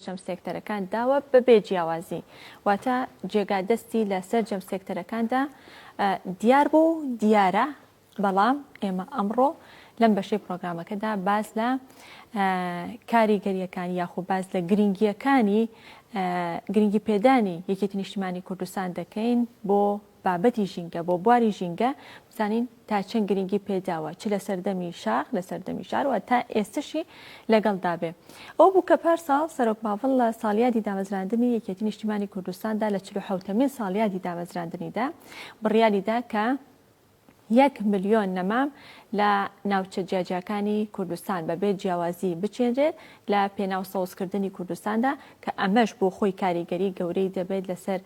جەم سێکتەرەکان داوە بە بێ جیاوازی واتە جێگا دەستی لە سەر جەم سێکتەرەکاندا دیار بوو و دیارە بەڵام ئێمە ئەمڕۆ لەم بەشەی پرۆگرامەکەدا باز لە کاریگەریەکان یاخۆ باز لە گرنگیەکانی گرنگی پێدانی یەکێتی نیشتیمانی کوردستان دەکەین بۆ بابەتی ژینگە، بۆ بواری ژینگە بزانین تا چەند گرنگی پێداوە، چ لە سەردەمی شاخ، لە سەردەمی شار و هەتا ئێستەشی لەگەڵدا بێ. ئەوە بوو کە پار ساڵ سەرۆک باڤڵ لە ساڵیادی دامەزراندنی یەکێتی نیشتیمانی کوردستاندا لە چل و حەوتەمین ساڵیادی دامەزراندنیدا بڕیاری دا کە یەک ملیۆن نەمام لە ناوچە جیاجیاکانی کوردستان بەبێ جیاوازی بچێنرێت لە پێناو سەوزکردنی کوردستاندا کە ئەمەش بۆ خۆی کاریگەری گەورەی دەبێت لەسەر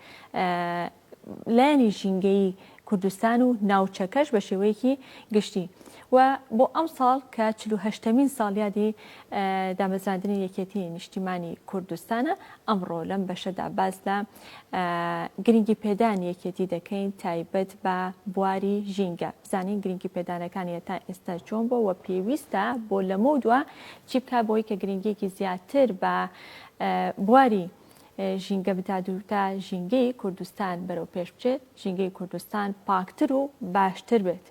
لایەنی ژینگەیی کوردستان و ناوچەکەش بە شێوەیەکی گشتی و بۆ ئەمساڵ کە چل و هەشتەمین ساڵیادی دامەزراندنی یەکێتی نیشتیمانی کوردستانە ئەمڕۆ لەم بەشەدا باس لە گرنگی پێدان یەکێتی دەکەین تایبەت بە بواری ژینگە بزانین گرنگی پێدانەکانی تا ئێستا چۆن بۆ وە پێویستە بۆ لەمە دووە چی بکە بۆی کە گرنگیەکی زیاتر بە بواری ژینگە بدات و تا ژینگەی کوردستان بەرەو پێش بچێت ژینگەی کوردستان پاکتر و باشتر بێت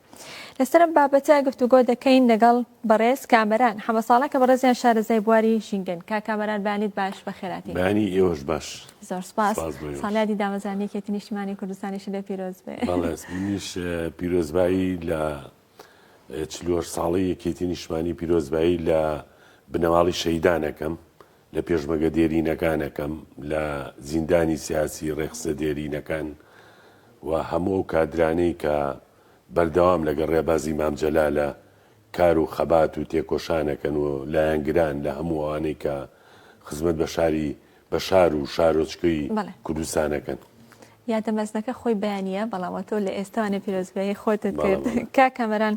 لەسەر ئەم بابەتە گفتوگۆ دەکەین لەگەڵ بەڕێز کامەران حەمە ساڵە کە بەڕێزیان شارەزای بواری ژینگەن کا کامەران بانیت باش بە خێراتی بانی ئێوەش باش زۆر سپاس سپاس بۆ ئێوەش. ساڵیادی دامەزرانی کێتی نیشتمانی کوردستانیش لە پیرۆز بێ بەڵێ منیش اه، پیرۆزبایی لە اه، چلوهەشت ساڵەی یەکێتی نیشتمانی پیرۆزبایی لە بنەماڵی شەهیدانەکەم لە پێشمەگە دێرینەکانەکەم، لە زیندانی سیاسی ڕێکخستنە دێرینەکان و هەموو ئەو کادرانەی کە بەردەوام لەگەڵ ڕێبازی مام جەلالە کار و خەبات و تێکۆشان ئەکەن و لایەنگران لە هەموو ئەوانەی کە خزمەت بە شاری بە شار و شارۆچکەی بەڵێ. کوردستان ئەکەن. یادە مەزنەکە خۆی بەیانییە بەڵام ئەتۆ لە ئێستاوانێ پیرۆزبایی خۆتت کرد کا کامەران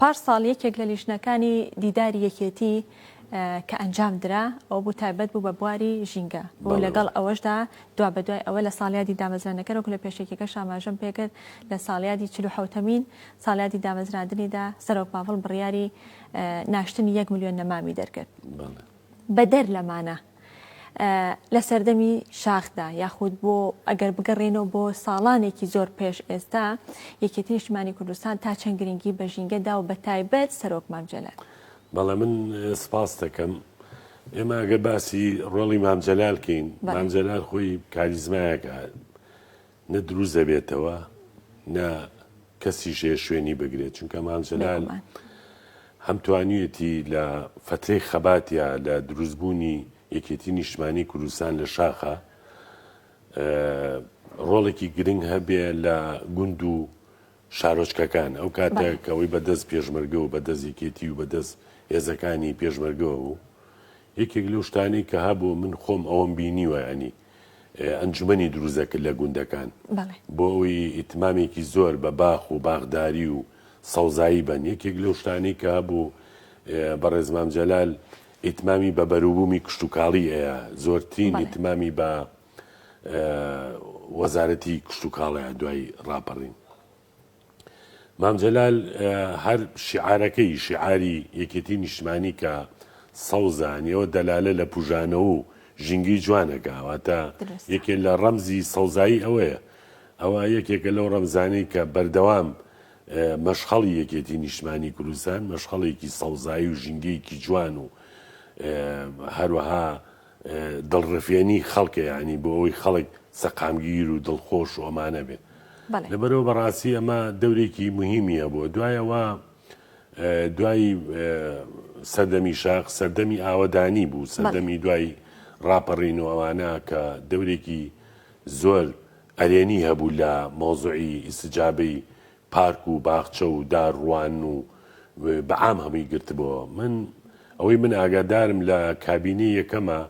پار ساڵ یەکێک لە لیژنەکانی دیداری یەکێتی کە ئەنجام درا ئەو بوو تایبەت بوو بە بواری ژینگە بۆ لەگەڵ ئەوەشدا دوا بە دوای ئەوە لە ساڵیادی دامەزرانەکەرەوە لە پێشێکەکە شاماژەم پێکرد لە ساڵیادی چلو حوتەمین ساڵیادی دامەزراندنیدا سەرۆک پاڤڵ بڕیاری ناشتنی یەک میلیۆن نەمامی دەرکرد بەدەر لەمانە لە سەردەمی شاخدا یاخود بۆ ئەگەر بگەڕێنەوە بۆ ساڵانێکی زۆر پێش ئێستا یەکێتی نیشتمانی کوردستان تا چەند گرنگی بە ژینگەدا و بە تایبەت سەرۆک مامجلال بەڵێ من سپاس دەکەم ئێمە ئەگەر باسی ڕۆڵی مامجلال کەین مامجلال خۆی کاریزمایەکە نە دروست دەبێتەوە نە کەسیش هەیە شوێنی بگرێت چونکە مام جەلال بێگومان هەم توانیویەتی لە فەترەی خەباتیا لە دروستبوونی یەکێتی نیشتمانی کوردستان لە شاخە ڕۆڵێکی گرنگ هەبێ لە گوند و شارۆچکەکان ئەو کاتە بەڵێ. کە ئەوەی بەدەست پێشمەرگە و بەدەست یەکێتی و بەدەست هێزەکانی پێشمەرگەوە بوو یەکێک لەو شتانەی کە هەبوو من خۆم ئەوەم بینیوە ینی ئەنجومەنی دروستدەکرد لە گوندەکان بۆ ئەوەی ئیتمامێکی زۆر بە باخ و باخداری و سەوزایی بەن یەکێک لەو شتانەی کە هەبوو بەڕێز مام جەلال ئیتمامی بە بەروبوومی کشتتوکاڵی ئەیە زۆرترین ئیتمامی بە وەزارەتی کشتتوکاڵەیە دوای ڕاپەڕین مام جەلال هەر شیعارەکەی، شیعاری یەکێتی نیشتمانی کە سەوزە، یانی ئەوە دەلالە لە پوژانەوەو ژینگەی جوانەکە، واتە یەکێ لە ڕەمزی سەوزایی ئەوەیە. ئەوە یەکێکە لەو ڕەمزانەی کە بەردەوام مەشخەڵی یەکێتی نیشتمانی کوردستان، مەشخەڵێکی سەوزایی و ژینگەیەکی جوان و هەروەها دڵڕفێنی خەڵکە یانی بۆ ئەوەی خەڵک سەقامگیر و دڵخۆش و ئەمانە بێت لەبەرەوە بەڕاستی ئەمە دەورێکی مهمی هەبووە دوایەوە دوای سەردەمی شاق سەردەمی ئاوەدانی بوو سەردەمی دوای ڕاپەڕین و ئەوانە کە دەورێکی زۆر ئەرێنی هەبوو لە مۆزعی ئیسجابەی پارک و باخچە و دار ڕوان و بە عام هەمووی گرتبۆوە من ئەوەی من ئاگادارم لە کابینەی یەکەمە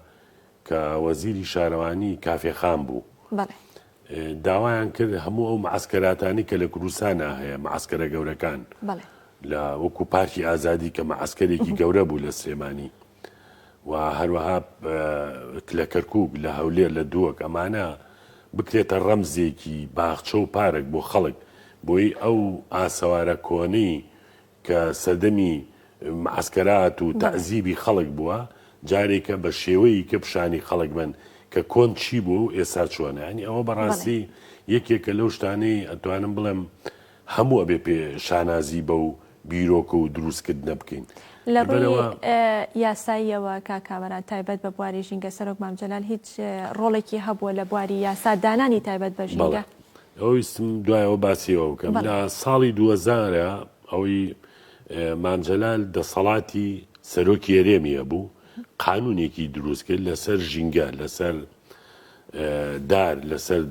کە وەزیری شارەوانی کافێ خان بوو داوایان کرد هەموو ئەو معسکەراتانی کە لە کوردستانا هەیە معسکەرە گەورەکان لە وەکو پارکی ئازادی کە مەعسکەرێکی گەورە بوو لە سلێمانی و هەروەها لە کەرکوک لە هەولێر لە دووەک ئەمانە بکرێتە ڕەمزێکی باخچە و پارک بۆ خەڵک بۆی ئەو ئاسەوارە کۆنەی کە سەردەمی معسکەرات و تەعزیبی خەڵک بووە جارێکە بە شێوەی کە پیشانی خەڵک بن کە کۆن چی بوو ئێسا چۆنانی ئەوە بەڕاستی یەکێکە لەو شتانەی ئەتوانم بڵێم هەموو ئەبێ پێ شانازی بەو بیرۆکە و دروستکردنە بکەین. لە ڕووی یاساییەوە کاک کامەران تایبەت بە بواری ژینگە سەرۆک مام جەلال هیچ ڕۆڵێکی هەبووە لە بواری یاسا دانانی تایبەت بە ژینگە؟ بەڵێ. ئەوە ویستم دوای ئەوە باسی ئەوە بکەم. لە ساڵی دووەزار ئەوەی مام جەلال دەسەڵاتی سەرۆکی هەرێمی هەبوو قانوونێکی دروست کرد لەسەر ژینگە لەسەر دار لەسەر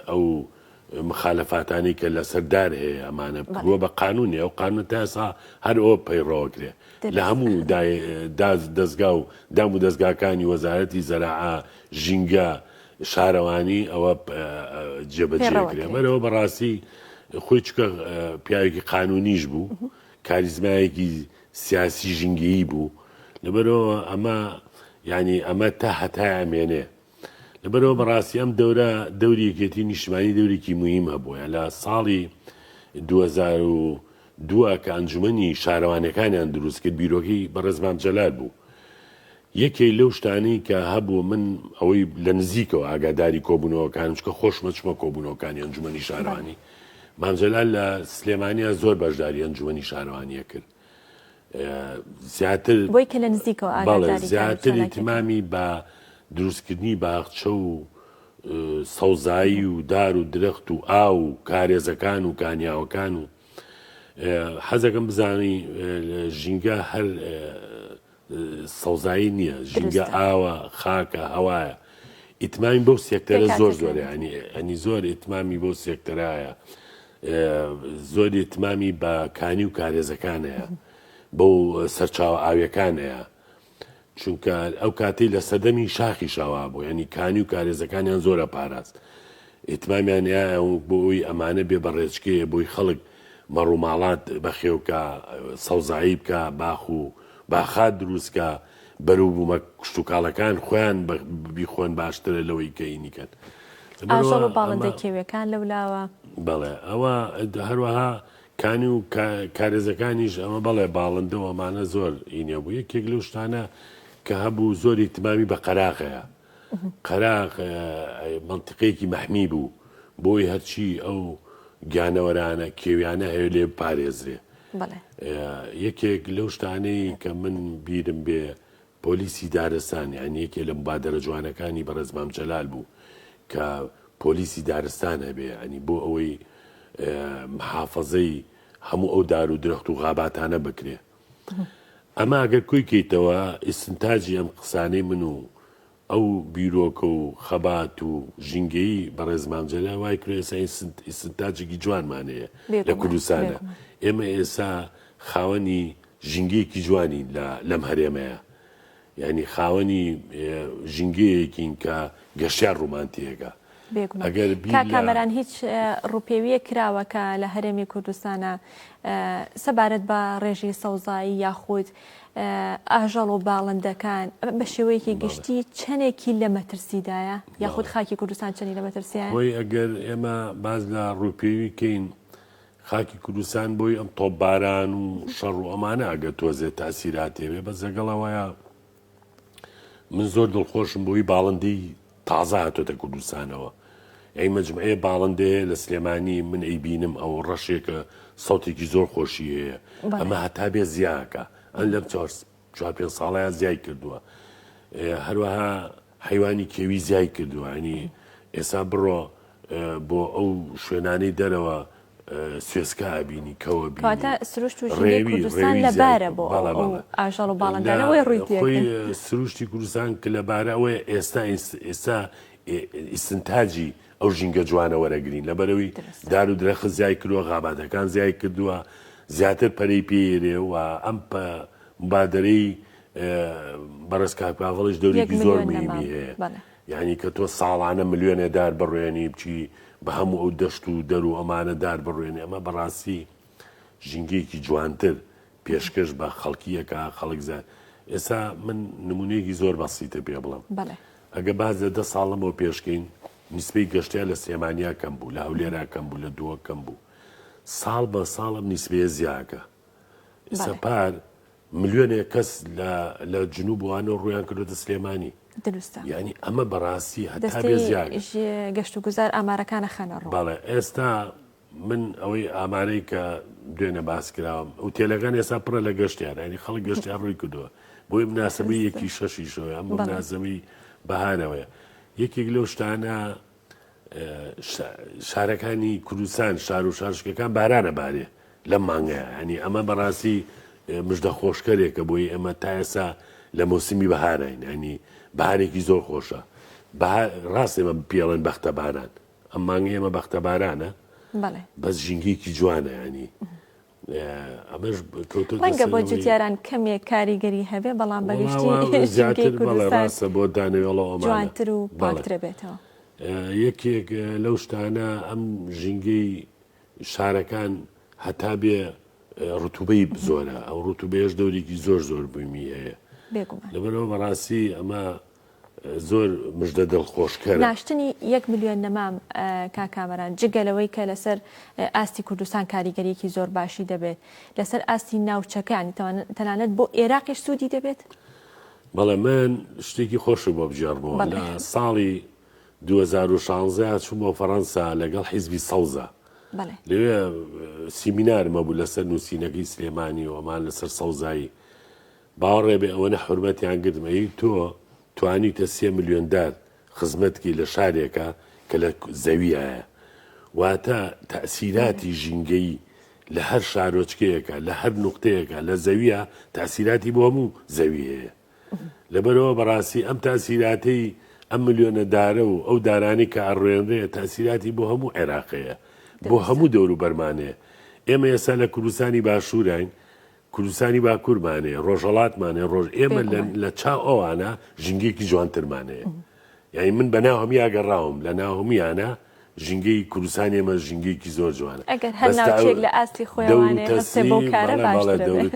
ئەو مخالفاتانی کە لە سەر دار هەیە ئەمانە بووە بە قانونی ئەو قانون تا ئێسا هەر ئەوە پەیڕەوەکرێ لە هەموو دەستگا و دام و دەستگاکانی وەزارەتی زەراعا ژینگە شارەوانی ئەوە جێبەجێکرێ بەرەوە بەڕاستی خۆی چکە پیاوێکی قانونیش بوو کاریزمایەکی سیاسی ژینگەیی بوو لەبەرەوە ئەمە ینی ئەمە تا هەتای ئەمێنێ لەبەرئەوە بەڕاستی ئەم دەورە دەوری یەکێتی نیشتمانی دەورێکی موهیم هەبووە لە ساڵی دوو هەزار و دوو کە ئەنجومەنی شارەوانەکانیان دروست کرد بیرۆکەی بەڕێز مام جەلال بوو یەکێ لەو شتانەی کە هەبوو من ئەوەی لە نزیکەوە ئاگاداری کۆبوونەوەکان چکە خۆشمە چمە کۆبوونەوەکانی ئەنجومەنی شارانی مامجلال لە سلێمانیا زۆر بەشداری ئەنجومەنی شارەوانیە کرد زیاتر بۆی کە لە نزیکەوە بەڵێ ئاگاداری کاری زیاتری چالاکیەکان. تمامی بە دروستکردنی باخچە و اه، سەوزایی و دار و درەخت و ئاو و کارێزەکان و کانیاوەکان و اه، حەزەکەم بزانی اه، ژینگە هەر اه، سەوزایی نییە ژینگە ئاوە خاکە هەوایە ئیتماین بەو سێکتەرە زۆر زۆرە ئەنی ئەنی زۆر ئیتمامی بۆ سێکتەرایە زۆر ئیتمامی بە کانی و کارێزەکانەیە بۆ سەرچاو ئاویەکانەیە چونکە ئەو کاتی لە سەدەمی شاخی شاوا بوو ینی کانی و کارێزەکانیان زۆرە پاراست ئیتمامیان ە ونک بۆ ی ئە مانە بێ بە ڕێچکە یە بۆی خەڵک مە ڕوماڵات بە خێو کا سە وزایی بکا باخ و با خات دروست کا بە رو بومە کشتوکاڵە کان خۆیان بە بیخۆن باشترە لە وەی کە ینی کەن ئاژەڵ و باڵندە کێویە کان لە ولاوە. بەڵێ ئە وە هە روەها کانی و کارێزە کانیش ئە مە بەڵێ باڵندە و ئە مانە زۆر ی نیە بوو یە کێک لە و شتانە کە هە بوو زۆر ئیتمامی بە قەراغە یە. قەراغ مەنتیقێکی مەحمی بوو، بۆی هەرچی ئەو گیانەوەرانە کێویانە هەیە لێ بپارێزرێ. یەکێک لەو شتانەی کە من بیرم بێ پۆلیسی دارستان یان یەکێ لە مبادرە جوانەکانی بەڕێز مام جەلال بوو کە پۆلیسی دارستان هەبێ ئەنی بۆ ئەوەی محافەزەی هەموو ئەو دار و درەخت و غاباتانە بکرێ. ئەمە ئەگەر کۆی کەیتەوە ئیستنتاجی ئەم قسانەی من و ئەو بیرۆکە و خەبات و ژینگەیی بەڕێز مام جەلال وای کرد ئێستا ئیستنت- ئیستنتاجێکی جوانمان هەیە لە بێگومان، کوردستانە بێگومان. ئێمە ئێستا خاوەنی ژینگەیەکی جوانین لە لەم هەرێمەیە یانی خاوەنی ژینگەیەکین کە گەشتیار ڕومانتیەکە بێگومان ئەگەر بیر کاک لە کامەران هیچ اه، ڕووپێوییەک کراوە کە لە هەرێمی کوردستانە اه، سەبارەت بە ڕێژەی سەوزایی یاخود اه، ئاژەڵ و باڵندەکان اه، بە شێوەیەکی بەڵێ گشتی چەندێکی لە مەترسیدایە یاخود بەڵێ خاکی کوردستان چەندی لە مەترسیایە؟ خۆی ئەگەر ئێمە باس لە ڕووپێوی کەین خاکی کوردستان بۆی ئەم تۆپباران و شەڕ و ئەمانە ئەگەر تۆزێ تاسیراتێ بێ بەس لەگەڵ ئەوەیە من زۆر دڵخۆشم بۆی باڵندەی تازە هاتۆتە کوردستانەوە ئەی مجموعەیە باڵندەیە لە سلێمانی من ئەی بینم ئەو ڕەشێکە سەوتێکی زۆر خۆشی هەیە ئەمە هەتا بێ زیاکە ئەم لەم چوار پێ ساڵەیە زیای کردووە هەروەها حەیوانی کێوی زیای کردوە ینی ئێسا بڕۆ بۆ ئەو شوێنانەی دەرەوە سوێسکا ئەبینی کەوە بینی ڕێوی ڕێوی زیاد بەڵێ بەڵێ ئاژەڵ و باڵندانە وەی ڕووی تێ ئەکەن خۆی سروشتی کوردستان کە لەبارە ئەوەیە ئێستا ئێستا ئیستنتاجی ئەو ژینگە جوانە وەرەگرین لەبەرەوەی دار و درەخت زیای کردوە غاباتەکان زیای کردوە زیاتر پەرەی پێ یرێ و ئەم پە مبادرەی بەڕێز کاک پاڤڵیش دەورێکی زۆر مهمی هەیە یعنی کە تۆ ساڵانە ملیۆنێ دار بڕوێنی بچی بە هەموو ئەو دەشت و دەر و ئەمانە دار بڕوێنی ئەمە بەڕاستی ژینگەیەکی جوانتر پێشکەش بە خەڵکیەکە خەڵک زان ئێستا من نمونەیەکی زۆر بەسیتە پێ بڵم ئەگە باز لە دە ساڵەمەوە پێشکەین نیسپەی گەشتیا لە سێمانیا کەم بوو لە هەولێرا کەم بوو لە دووە کەم بوو ساڵ بە ساڵم نیسبەیە زیاکە ئیستا پار ملیۆنێ کەس لە لە جنوب وانە ڕویان کردوتە سلێمانی دروستە ینی ئەمە بەڕاستی هەتابێزیاگە گەشت و گوزار ئامارەکانە خەنە ڕڵێ ئێستا من ئەوەی ئامارەی کە دوێنە باس کراوم ئەو تێلەکان ئێستا پڕە لە گەشتیان ینی خەڵک گەشتیان ڕووی کردووە بۆی مناسبەی یەکی شەشیشەوە ئەم مناسبەی بەهانەوەە یەکێک لەو شتانە شارەکانی کوردستان شار و شارشکەکان بارانە بارێ لەم مانگەیە هەنی ئەمە بەڕاستی مژدە خۆشکەرێکە بۆی ئەمە تا ئێسا لە مۆسیمی بەهاراین ئەنی بارێکی زۆر خۆشە ڕاست ئێمە پێڵێن بەختە باران ئەم مانگە ئێمە بەختە بارانە بەس ژینگەیەکی جوانە ینی ئەمەش کەوتە ڕەنگە بۆ جوتیاران کەمێک کاریگەری هەبێ بەڵام بەگشتی ڕاستە بۆ دانەوێڵەوە جوانتر و پاکترە بێتەوە یەکێک لەو شتانە ئەم ژینگەی شارەکان هەتا بێ ڕتوبەی بزۆرە ئەو ڕتوبێش دەورێکی زۆر زۆر بوومی هەیە لەبەرەوە بەڕاستی ئەمە زۆر مژدە دڵخۆشکەرە. ناشتنی یەک ملیۆن نەمام کاک کامەران جگە لەوەی کە لەسەر ئاستی کوردستان کاریگەریەکی زۆر باشی دەبێت لەسەر ئاستی ناوچەکە یانی تەنانەت بۆ ئێراقیش سوودی دەبێت؟ بەڵێ من شتێکی خۆشم بۆ بگێڕمەوە لە ساڵی 2016 چوومەوە فەڕەنسا لەگەڵ حیزبی سەوزە لەوێ سیمینارمە بوو لەسەر نووسینەکەی سلێمانی و ئەمان لەسەر سەوزایی باوەڕێ بێ ئەوەنە حورمەتیان گرتم ئەی تۆ توانیوتە سێ ملیۆن دار خزمەت کەی لە شارێکا کە لە زەویایە واتە تەئسیراتی ژینگەیی لە هەر شارۆچکەیەکە لە هەر نوختەیەکە لە زەویە تەئسیراتی بۆ هەموو زەوی هەیە لەبەرەوە بەڕاستی ئەم تاسیراتەی ئەم ملیۆنە دارە و ئەو دارانی کە ئەڕوێنرێ تاسیراتی بۆ هەموو عێراقەیە بۆ هەموو دەور و بەرمانەیە ئێمە ئێستا لە کوردستانی باشووراین کوردستانی باکورمان هەیە، ڕۆژهەڵاتمان هەیە، ڕۆژ ئێمە لە چاو ئەوانە ژینگەیەکی جوانترمان هەیە. یانی من بە ناو هەمیا گەڕاوم لە ناو هەمویانە ژینگەی کوردستان ئێمە ژینگەیەکی زۆر جوانە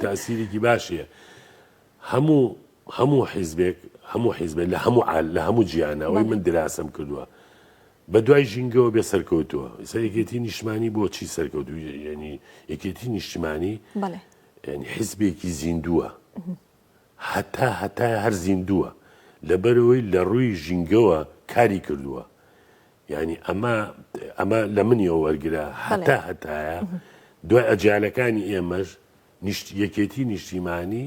تاسیرێکی باشە هەموو هەموو حیزبێک هەموو حیزبێن لە هەموو لە هەموو جیانەوەی من دراسەم کردووە. بە دوای ژینگەوە بێ سەرکەوتووە ئیسا یەکێتی نیشتمانی بۆ چی سەرکەوتوی یعنی یەکێتی نیشتمانی بەڵێ یعنی حیزبێکی زیندووە هەتا هەتا هەر زیندووە لەبەرەوەی لە ڕووی ژینگەوە کاری کردووە یعنی ئەمە ئەمە لە منیەوە وەرگرە هەتا هەتایە دوای ئەجالەکانی ئێمەش نیشت یەکێتی نیشتیمانی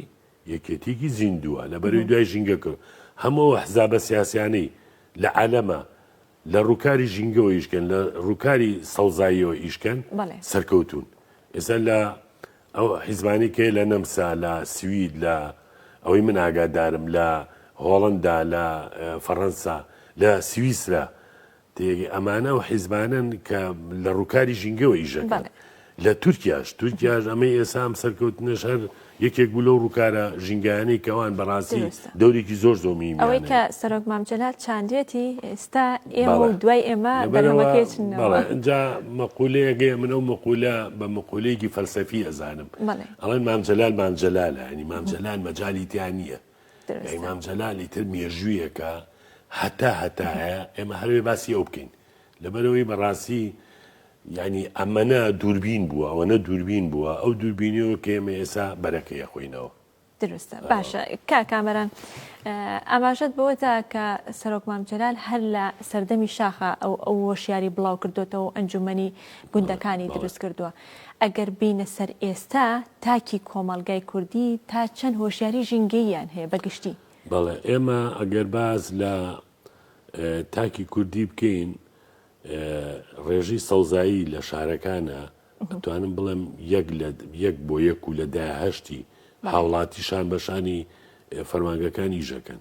یەکێتیەکی زیندووە لە بەرەی دوای ژینگەکەوە، هەموو ئەو ئەحزابە سیاسیانەی لە عالەمە لە ڕووکاری ژینگەوە ئیش کەن لە ڕووکاری سەوزاییەوە ئیش کەن سەرکەوتوون. ئێستا لە ئەو حیزبانەی کە لە نەمسا لە سوید لە ئەوەی من ئاگادارم لە هۆڵەندا لە فەڕەنسا لە سویسرا تێگەی ئەمانە ئەو حیزبانەن کە لە ڕووکاری ژینگەوە ئیشەکەن لە تورکیاش تورکیاش ئەمەی ئێسا ئەم سەرکەوتنەش هەر یەکێک بوو لەو ڕووکارە ژینگانەی کەوان بەڕاستی دەورێکی زۆر زۆر میم ئەوەی کە سەرۆک مامجلال چاندێتی ئێستا ئێمە و دوای ئێمە اینجا مەقولەیەگەی من ئەو مەقولە بە مەقولەیەکی فەلسەفی ئەزانم ئەڵێن مامجلال مامجلالە ینی مامجلال مەجای تیان نییە درەستە. ئیمام جەلالی تر مێژوویەکە هەتا هەتایە ئێمە هەرەوێ باسی ئەو بکەین لەبەرەوەی بەڕاستی یعنی ئەمەە دووربین بووە ئەوەنە دووربین بووە ئەو دووربینیەوە کە ئێمە ئێسا بەرەکەی خۆینەوە دروستە باشە کا کامەران ئاماژەت بەوەدا کە سەرۆک مامجلال هەر لە سەردەمی شاخە ئەو ئەو وەشیاری بڵاو کردوێتەوە ئەنجومنی گوندەکانی دروست کردووە ئەگەر بێینە سەر ئێستا تاکی کۆمەڵگای کوردی تا چەند هۆشیاری ژینگەییان هەیە بە گشتی؟ بەڵێ، ئێمە ئەگەر باس لە تاکی کوردی بکەین، ڕێژەی سەوزایی لە شارەکانە، ئەتوانم بڵێم یەک لە یەک بۆ یەک و لە دایە هەشتی هاوڵاتی شان بە شانی فەرمانگەکان ئیژەکەن.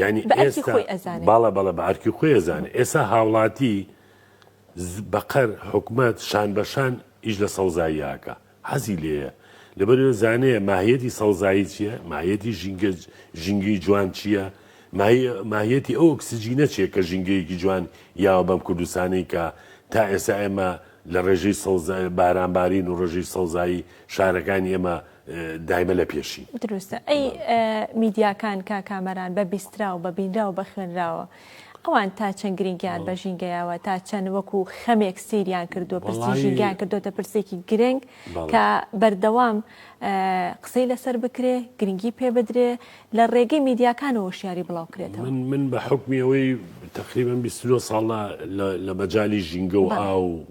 یانی بە ئەرکی ئێستا خۆی ئەزانێ. باڵا بەڵێ بە ئەرکی خۆی ئەزانێ ئێسا هاوڵاتی ز بەقەر حکومەت شان بە شان ئیش لە سەوزایی ئاکا حەزی لێیە لەبەر وێ زانێ ماهیەتی سەوزایی چیە ماهیەتی ژینگە ژینگەی جوان چیە ماهی ماهیەتی ئەو ئۆکسجینە چیە کە ژینگەیەکی جوان یاوە بەم کوردستانەی کە تا ئێسا ئێمە لە ڕێژەی سەوزا باران بارین و ڕێژەی سەوزایی شارەکانی ئێمە دایمە لە پێشی. دروستە ئەی میدیاکان کا کامەران بە بیستراو بە بینراو بە خوێنراوە ئەوان تا چەند گرنگیان بە ژینگەیاوە تا چەند وەکو خەمێک سیریان کردووە پرسی ژینگیان کردوتە پرسێکی گرنگ کە بەردەوام قسەی لەسەر بکرێ گرنگی پێ بدرێ لە ڕێگەی میدیاکانەوە شیاری بڵاوکرێتەوە من من بە حکمی ئەوەی تقریبان 29 ساڵە لە مەجای ژینگە و ئاو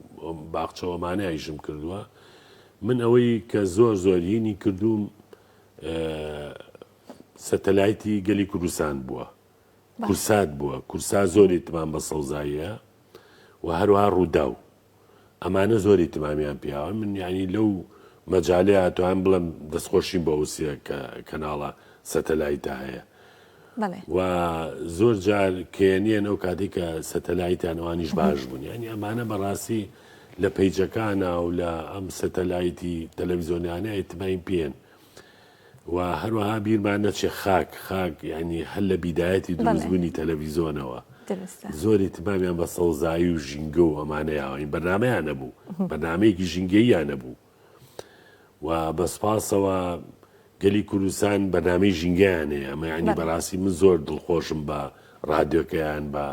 باخچەوەمانە ئایشم کردووە من ئەوەی کە زۆر زۆر هینی کردووم سەتەلایتی گەلی کوردستان بووە کورسات بووە کورسا زۆری تمام بە سەوزاییە و هەروها ڕووداو ئەمانە زۆری تمامیان پیاوە من یعنی لەو مەجاالەیە توان بڵم دەستخۆشیم بە وسیە کە کەناڵە سەتەلایتا هەیە بەڵێ. و زۆر جار کێنێن ئەو کاتەی کە سەتەلایتیان ئەوانیش باش بوون یانی ئەمانە بەڕاستی لە پەیجەکانە و لە ئەم سەتەلایتی تەلەویزیۆنیانە ئیتماین پێن و هەروەها بیرمان نەچێ خاک خاک ینی هەر لە بیدایەتی دروستبوونی تەلەڤیزۆنەوە زۆری تبامیان بە سەوزایی و ژینگە و ئەمانەیەوەین بەنامەیانە بوو بەنامەیەکی ژینگەییانە بوو و بە سوپاسەوە گەلی کوردستان بەرنامەی ژینگەیان هەیە ئەمە ینی بەڵێ. بەراستی من زۆر دڵخۆشم بە رادیۆکەیان بە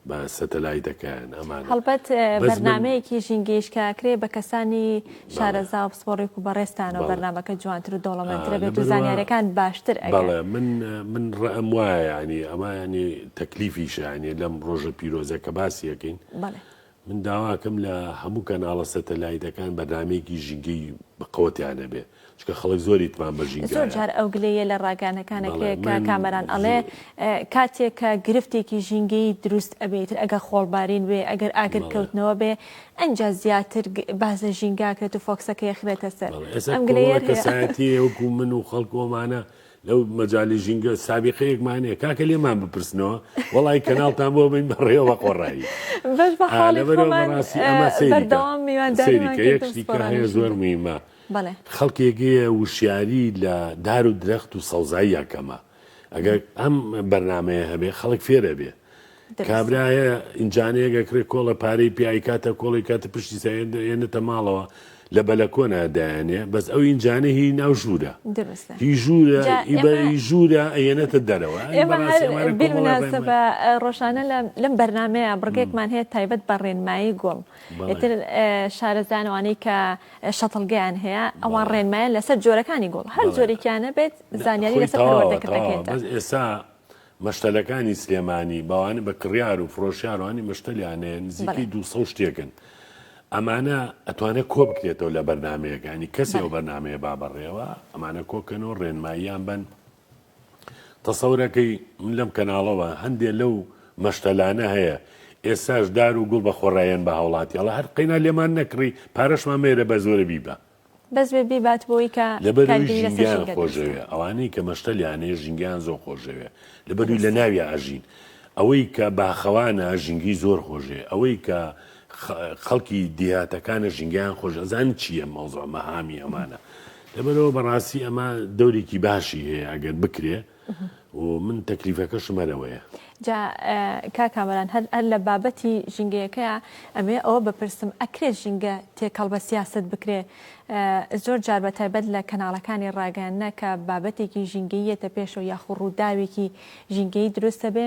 بە سەتەلایتەکەیان ئەمانە هەڵبەت اه، بەس من بەرنامەیەکی ژینگەیش کە کرێ بە کەسانی بەڵێ شارەزا و پسپۆڕیک و بەڕێزتانەوە بەڵێ بەرنامەکە جوانتر و آه، دەوڵەمەندترە بێت و لەبەروا زانیاریەکان باشتر ئەگەن. بەڵێ من من رەئم وایە یانی ئەمە یانی تەکلیفیشە یانی لەم رۆژە پیرۆزە کە باسی ئەکەین بەڵێ. من داواکەم لە هەموو کەناڵە سەتەلایتەکان بەرنامەیەکی ژینگەی بەقەوە تیا نەبێ چونکە خەڵک زۆر ئیتمام بە ژینگایە. زۆر جار ئەو گلەییە لە ڕاگەیانەکانە کێ کە کامەران ئەڵێ کاتێ کە گرفتێکی ژینگەیی دروست ئەبێ ئیتر ئەگەر خۆڵبارین بێ ئەگەر ئاگر کەوتنەوە بێ ئەنجا زیاتر باس لە ژینگە ئەکرێت و فۆکسەکە یەخرێتە سەر ئەم گلەییە. کەسایەتییە وەکوو من و خەڵک و ئەمانە لەو مەجالی ژینگە سابیقەیەکمان هەیە کاکە لێمان بپرسنەوە وەڵی کەناڵتان بۆ بین بەڕێوە قۆڕایی هەیە زۆر میمە خەڵکێگەیە وشیاری لە دار و درەخت و سەوزاییە کەمە ئەگەر ئەم بەرنمەیە هەبێ خەڵک فێرە بێ کابرایە ئینجانەیەگە کڕێ کۆڵە پارەی پێ ئەیکاتە کۆڵی کاتە پشتی سا ئێنێتە ماڵەوە لە بەلەکۆنا دایەنێ بەس ئەو ئینجانە هی ناو ژوورە هی ژوورە ئیبەری ژوورە ئەیەنێتە دەرەوە ڕۆژانە لەم بەرنمەیە بڕگێکمان هەیە تایبەت بە ڕێنمایی گوڵ ئتر شارەزانەوانی کە شەتڵگەیان هەیە ئەوان ڕێنمایان لەسەر جۆرەکانی گوڵ هەر جۆرێکیانە بێت زانیاری لەسەر دەکەن ئێستا مەشتەلەکانی سلێمانی بەوانە بە کڕیار و فرۆشیار وانی مەشتەلیان هەیە نزیکەی دوو سەد و شتێکن ئەمانە ئەتوانێت کۆ بکرێتەوە لە بەرنمەیەەکانی کەسی ئەو بەرنمەیە با بەڕێوە ئەمانە کۆکەنەوە ڕێنماییان بن تەسەورەکەی من لەم کەناڵەوە هەندێک لەو مەشتەلانە هەیە ئێساش دار و گوڵ بە خۆڕایەن بە هاوڵاتیڵە هەر قەینا لێمان نەکڕی پارەشمان مێرە بە زۆرە بیبە بەس بێ بیبات بۆی کە لەبەروی کارگری لەسەر ژینگەیان ژینگە دروست خۆشەوێ کات. ئەوانەی کە مەشتەلیان هەیە ژینگەیان زۆر خۆشەوێ لەبەروی بەس. لەناویا ئەژین ئەوەی کە باخەوانە ژینگەی زۆر خۆشەوێ ئەوەی کە خە خەڵکی دیهاتەکانە ژینگەیان خۆش ئەزانی چیە مەوزوع مەهامی ئەمانە لەبەرئەوە بەڕاستی ئەمە دەورێکی باشی هەیە ئەگەر بکرێ و من تەکلیفەکەشم هەرەوەیە. جا کاک کامەران هەر هەر لە بابەتی ژینگەیەکەیا ئەمەوێ ئەوە بپرسم ئەکرێ ژینگە تێکەڵ بە سیاسەت بکرێ زۆر جار بە تایبەت لە کەناڵەکانی ڕاگەیاندنە کە بابەتێکی ژینگەییەتە پێشەوە یاخۆ ڕووداوێکی ژینگەیی دروستە بێ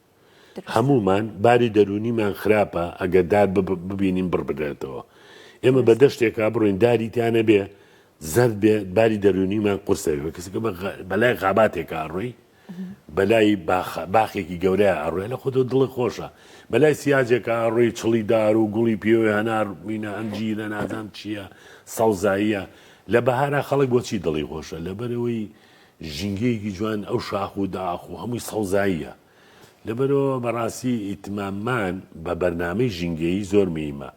هەموومان باری دەروونیمان خراپە ئەگەر دار ببینین بڕ بدرێتەوە ئێمە بە دەشتێکا بڕۆین داری تیانە بێ زەرد بێ باری دەروونیمان قورسەوێ کەسەکە بەلای خاباتێکە ئەڕۆی بەلای باخێکی گەورەیە ئەڕێ لە خۆتۆ دڵی خۆشە بەلای سیاجێکە ئەڕۆی چڵی دار و گوڵی پێوە هەنار مینە ئەنجیرە نازان چییە سەوزاییە لە بەهارا خەڵک بۆچی دڵی خۆشە لەبەرەوەی ژینگەیەکی جوان ئەو شاخ و داخ و هەمووی سەوزاییە لەبەرئەوە بەڕاستی ئیتماممان بە بەرنامەی ژینگەیی زۆر مهیمە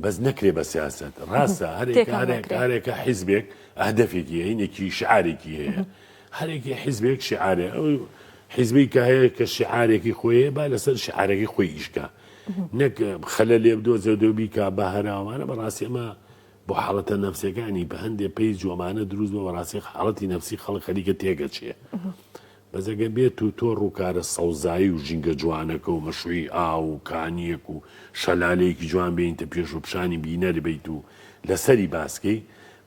بەس نەکرێ بە سیاسەت ڕاستە هەرێکارێکارێکە حیزبێک ئەهدەفێکی هەینێکی شعارێکی هەیە هەرێکی حیزبێک شعارێ ئەو حیزبی کە هەیە کە شعارێکی خۆیە با لەسەر شعارەکەی خۆی ئیشکە نەک خەلە لێ بدۆزێ دۆبی کا بە هەراوانە بەڕاستی ئەمە بۆ حاڵەتە نەفسیەکانی بە هەندێ پەیج و ئەمانە دروست بە بەڕاستی حاڵەتی نەفسی خەڵک خەریکە تێگەچێ بەس ئەگەر بێت و تۆ ڕووکارە سەوزایی و ژینگە جوانەکە و مەشروعی ئاو و کانیەک و شەلالەیەکی جوان بێنیتە پێش و پیشانی بینەر بیت و لەسەری باس کەی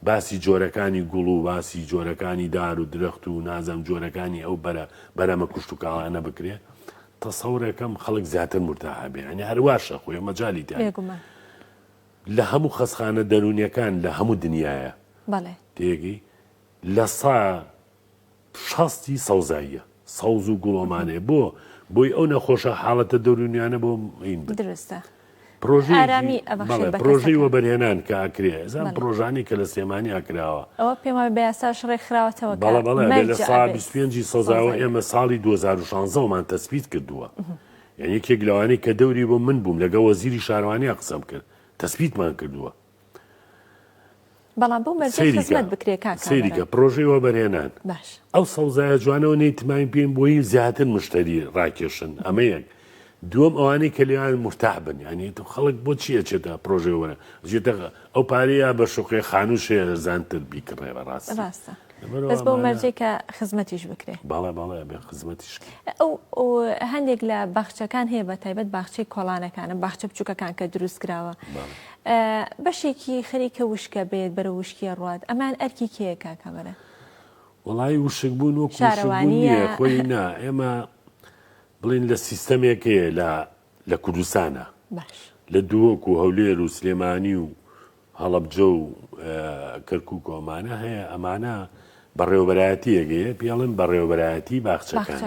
باسی جۆرەکانی گوڵ و باسی جۆرەکانی دار و درەخت و نازەم جۆرەکانی ئەو بەرە بەرەمە کوشتوکاڵانە بکرێ تەسەورەکەم خەڵک زیاتر مورتاح ئەبێ یانی هەر واشە خۆ ئێمە جالی تێ بێگومان. لە هەموو خەسخانە دەرونیەکان لە هەموو دنیایە بەڵێ تێگەی لە سا شەستی سەوزاییە سەوز و گوڵۆمانێ بۆ بۆی ئەو نەخۆشە حاڵەتە دەرونیانە بۆ مین درستە پرۆژەی وەبەرهێنان کە ئەکرێ زان پرۆژانی کە لە سلێمانی ئەکراوە ئەوە پێم بە یاساش ڕێکخراوەتەوە بەڵە بەڵێ لە سا پێنجی سەزاوە ئێمە ساڵی 2016مان تەسبیت کردووە. یان یەکێک لەوانەی کە دەوری بۆ من بووم لەگەڵ وەزیری شارەوانیا قسەم کرد تەسبیتمان کردووە. بەڵام بەو مەرجەی خزمەت بکرێ کاک کامەران. سەیری کە پڕۆژەی وەبەرهێنان. باش. ئەو سەوزایە جوانە و نەی تماین پێین بۆی زیاتر مشتەری ڕاکێشن ئەمە یەک. دووەم ئەوانەی کە لێیان مرتاح بن یانی خەڵک بۆچی ئەچێتە پڕۆژەی وەبەرهێنان ئەجێتە ئەو پارەیە بە شوقەی خانووشێ ئەرزانتر بیکڕێ بەڕاستی. ڕاستە. بەس بەو مەرجەی کە خزمەتیش بکرێ. بەڵێ بەڵێ ئەبێ خزمەتیش کرێ. ئەو هەندێک لە باخچەکان هەیە بە تایبەت باخچەی کۆڵانەکانە باخچە بچووکەکان کە دروست کراوە بەشێکی خەریکە وشکە بێت بەرە وشکیە ڕات ئەمان ئەرکی کێ کاکەمەرە وڵی وشک بوون و شارەوانیە خۆی نا ئێمە بڵین لە سیستەمێک هەیە لە لە کوردستانە لە دووەک و هەولێر و سلێمانی و هەڵەبجە و کەرکوک و ئەمانە هەیە ئەمانە بەڕێوەبەرایەتی یەگەیە پێڵێن بەڕێوەبەرایەتی باخچەکان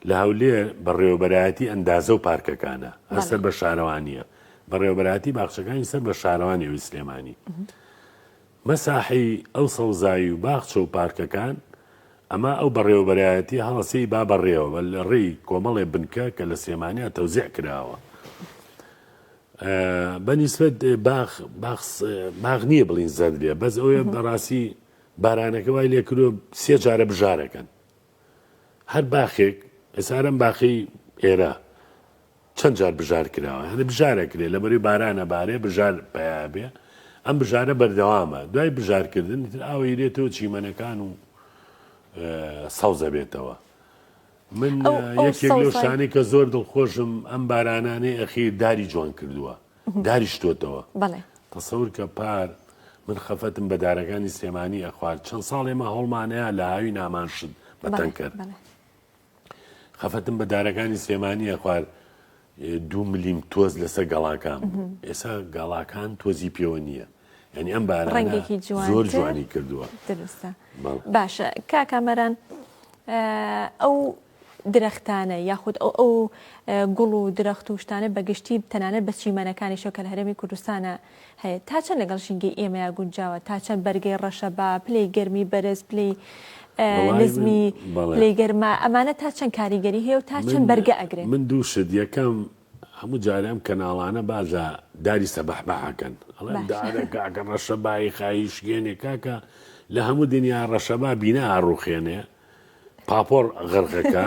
لە هەولێ بەڕێوەبەرایەتی ئەندازە و پارکەکانە ئەسەر بە شارەوانیە بەڕێوەبەراتی باخچەکانی سەر بە شارەوانی ئەوی سلێمانی مەساحی ئەو سەوزایی و باخچە و پارکەکان ئەمە ئەو بەڕێوەبەرایەتی هەڵەسی با بەڕێوە لە ڕێی کۆمەڵێ بنکە کە لە سلێمانیا تەوزیع کراوە بە نیسبەت باخ باخ نییە بڵین زەرد بێ بەس ئەوێ بەڕاستی بارانەکە وای لێ کرۆ سێ جارە بژارەکەن هەر باخێک ئێسارم باخی ئێرە چەند جار بژار کراوە هەر بژارە کرێ لە بەری بارانە بارێ بژار پیابێ ئەم بژارە بەردەوامە دوای بژارکردن تر ئاوەیرێتەوە چیمەنەکان و سەوزە بێتەوە من یەکێک لەو شتانەی کە زۆر دڵخۆشم ئەم بارانانەی ئەخیر داری جوان کردووە داری شتۆتەوە تەسەور کە پار من خەفەتم بە دارەکانی سلێمانی ئەخوارد چەند ساڵ ئێمە هەوڵمانەیە لە هاوی نامان شت بەتەنکەر خەفەتم بە دارەکانی سلێمانی ئەخوارد دوو ملیم تۆز لەسەر گەڵاکان بوو ئێسا گەڵاکان تۆزی پێوە نییە ینی ئەم بارڕنگێکی زۆر جوانی کردووە درستە باشە کاکامەران ئەو درەختانە یاخود ئەو ئەو گوڵ و درەخت و شتانە بەگشتی تەنانە بە چیمەنەکانیشە کە لە هەرێمی کوردستانە هەیە تا چەند لەگەڵ ژینگەی ئێمەیا گونجاوە تا چەند بەرگەی ڕەشە با پلەی گەرمی بەرز پلەی نزمی پلەی گەرما ئەمانە تا چەند کاریگەری هەیە و تا چەند بەرگە ئەگرێت من دوو شت یەکەم هەموو جارێ ئەم کەناڵانە باز لە داری سەبەحبەحەکەن ئەڵێن دارەکەکە ڕەشەبایی خایی شکێنێ کاکە لە هەموو دنیا ڕەشەبا بینا ئاڕوخێنێ پاپۆڕ غەرقەکە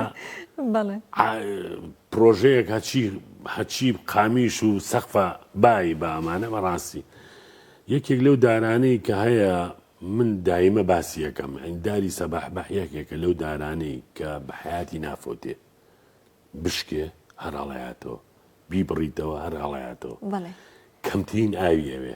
بەڵێ ئا، پرۆژەیەک هەچی هەچی قامیش و سەقفە بایی بە ئەمانە بەڕاستی یەکێک لەو دارانەی کە هەیە من دایمە باسی یەکەم ئەین داری سەباح بەح یەکێکە لەو دارانەی کە بە حەیاتی نافۆتێ بشکێ هەر هەڵەیاتەوە بیبڕیتەوە هەر هەڵەیاتەوە بەڵێ کەمترین ئاوی ئەوێ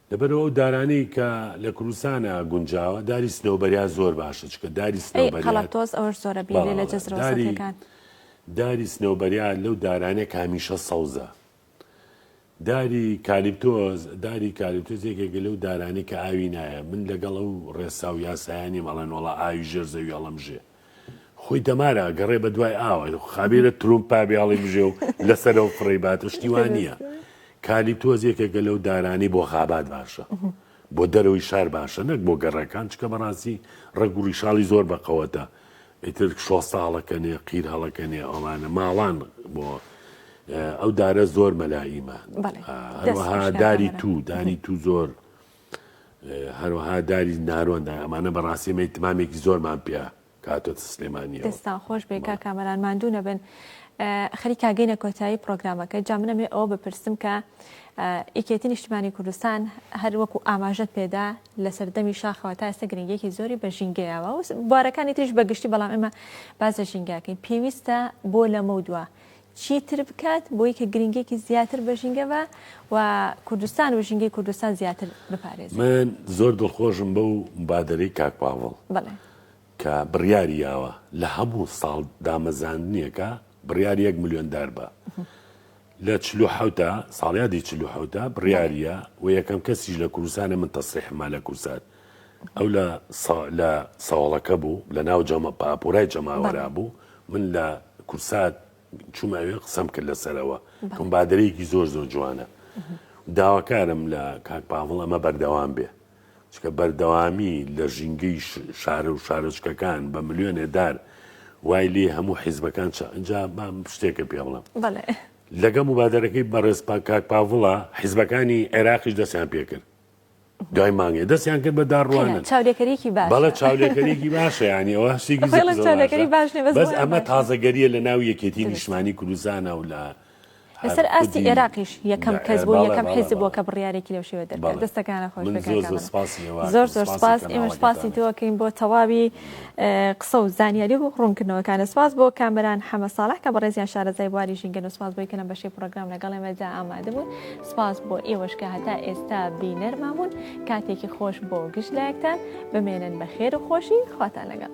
لەبەر ئەو دارانەی کە لە کوردستانە گونجاوە داری سنەوبەریا زۆر باشە چونکە داری سنەوبەریا داری داری سنەوبەریا لەو دارانە کە هەمیشە سەوزە داری کالیپتۆز داری کالیپتۆز یەکێک لەو دارانی کە ئاوی نایە من لەگەڵ ئەو ڕێسا و یاسایانی مەڵێن وڵا ئاوی ژێر زەوی هەڵمژێ خۆی دەمار ئەگەڕێ بە دوای ئاوە خابێرە ترومپ پابیاڵی بژێ و لەسەرەوە فڕێی باتە شتیوان نییە کالی تۆز یەکێکە لەو دارانی بۆ خابات باشە بۆ دەرەوەی شار باشە نەک بۆ گەڕەکان چکە بەڕاستی ڕەگ و ڕیشاڵی زۆر بەقەوەتە ئیتر شۆ ساڵەکەنێ قیر هەڵەکەنێ ئەوانە ماڵان بۆ ئەو دارە زۆر مەلایمە داری تو دانی تو زۆر هەروەها داری نارۆن دان ئەمانە بەڕاستی ئێمە ئیتمامێکی زۆرمان پێ کاتۆتە سلێمانیەوە. دەستان خۆش بێ کاک کامەران ماندوو نەبن خەریکا گەینە کۆتایی پرۆگرامەکە جا من ئەمێ ئەوە بپرسم کە یەکێتی نیشتمانی کوردستان هەر وەکو ئاماژەت پێدا لە سەردەمی شاخەوە تا ئێستا گرنگێکی زۆری بە ژینگەیەوە و بارەکانی تریش بەگشتی بەڵام ئێمە باز لە ژینگاکەین پێویستە بۆ لەمە دووە چی تر بکات بۆی کە گرینگیەکی زیاتر بە ژینگە بە و کوردستان و ژینگەی کوردستان زیاتر بپارێزێ. من زۆر دڵخۆشم بەو مبادەرەی کاک پاڤڵ بەڵێ. کە بڕیاری یاوە لە هەموو ساڵ دامەزاندنێکا بڕیار یەک ملیۆن دار بە لە چل و حەوتا ساڵیادی چل و حەوتا بڕیاریە و یەکەم کەسیش لە کوردستانە من تەسریحمە لە کورسات ئەو لە سا لە سەوەڵەکە بوو لە ناو جەمە پاپۆرای جەماوەرا بەڵێ. بوو من لە کورسات چوومە ئەوێ قسەم کرد لەسەرەوە کەم بەڵێ. بادەرەیەکی زۆر زۆر جوانە داواکارم لە کاک پاڤڵ ئەمە بەردەوام بێ چونکە بەردەوامی لە ژینگەی ش شارە و شارۆچکەکان بە ملیۆنێ دار وای لێ هەموو حیزبەکان چا ئینجا با شتێکت پێ بڵێم بەڵێ. لەگەڵ مبادەرەکەی بەڕێز پا کاک پاڤڵا حیزبەکانی عێراقیش دەستیان پێ کرد دوای مانگێ دەستیان کرد بە داڕوانن چاولێکەریکی باڵە چاولێکەریکی باشە ینی ئەوە هەستێکی بەس ئەمە تازەگەریە لە ناو یەکێتی نیشمانی کوردستانە و لە لەسەر ئاستی عێراقیش یەکەم کەس بۆ یەکەم حیز بۆ کە بڕیارێکی لەو شێوە دەکات دەستەکانە خۆش زۆر زۆر سپاس ئێمە سپاسی تۆکەین بۆ تەواوی قسە و زانیاری و ڕوونکردنەوەکانە سپاس بۆ کامران حەمە ساڵح کە بەڕێزیان شارەزای بواری ژینگە و سپاس بۆی کە لەم بەشی پرۆگرام لەگەڵ ئێمەدا ئامادە بوون سپاس بۆ ئێوەش کە هەتا ئێستا بینەرمان بوون کاتێکی خۆش بۆ گشت لایەکتان بمێنن بە خێر و خۆشی خواتان لەگەڵ.